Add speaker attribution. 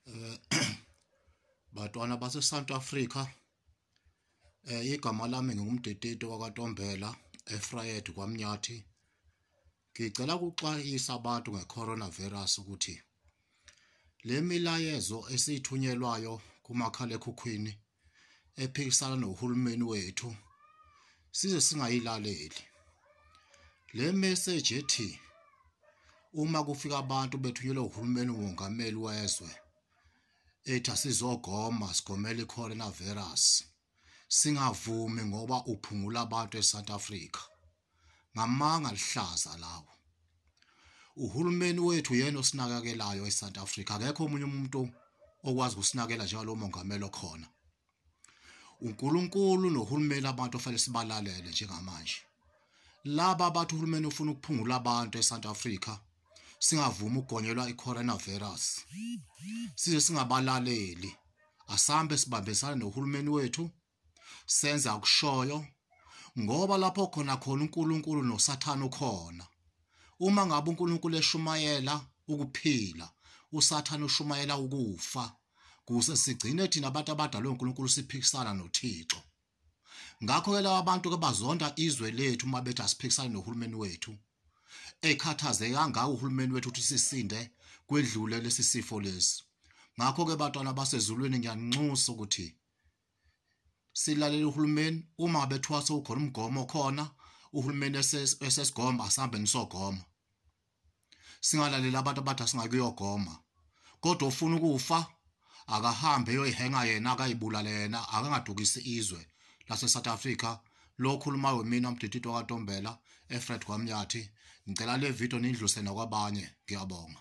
Speaker 1: eh batwana base South Africa eh igama lami ngingumdedede wakwaTombela eFrayed kwaMnyathi ngicela ukuxwayisa abantu ngecoronavirus ukuthi le milayezo esithunyelwayo kumakhalekhukhwini ephikisana nohulumeni wethu size singayilaleli le message ethi uma kufika abantu bethunyelwe uhulumeni wongameli wezwe ethi asizogoma sigomela i-coronavirus singavumi ngoba uphungula abantu e-south africa ngamanga lihlaza lawo uhulumeni wethu yena osinakekelayo eSouth Africa akekho omunye umuntu okwazi ukusinakela njalo mongameli okhona uNkulunkulu nohulumeni abantu ofanele sibalalele njengamanje laba bathi uhulumeni ufuna ukuphungula abantu eSouth Africa singavumi ukugonyelwa i-coronavirus size singabalaleli asambe sibambisane nohulumeni wethu senza kushoyo ngoba lapho khona khona uNkulunkulu noSathane ukhona uma ngabe uNkulunkulu eshumayela ukuphila uSathane ushumayela ukufa kuze sigcine thina abantu abadalwe uNkulunkulu siphikisana noThixo ngakho ke laba bantu ke bazonda izwe lethu uma bethi asiphikisane nohulumeni wethu ekhathazeke kangaka uhulumeni wethu ukuthi sisinde kwedlule lesi sifo lesi ngakho ke bantwana basezulwini ngiyanxusa ukuthi silalele uhulumeni uma ngabe kuthiwa sewukhona umgomo okhona uhulumeni esesigoma asihambe nisogoma singalaleli abantu abathi asingakuyogoma kodwa ufuna ukufa akahambe eyoyihenga yena akayibulale yena akangadukisi izwe lase-south africa lokhuluma wemina umdididi wakatombela efred kwamnyathi ngicela le video niyidluse nakwabanye ngiyabonga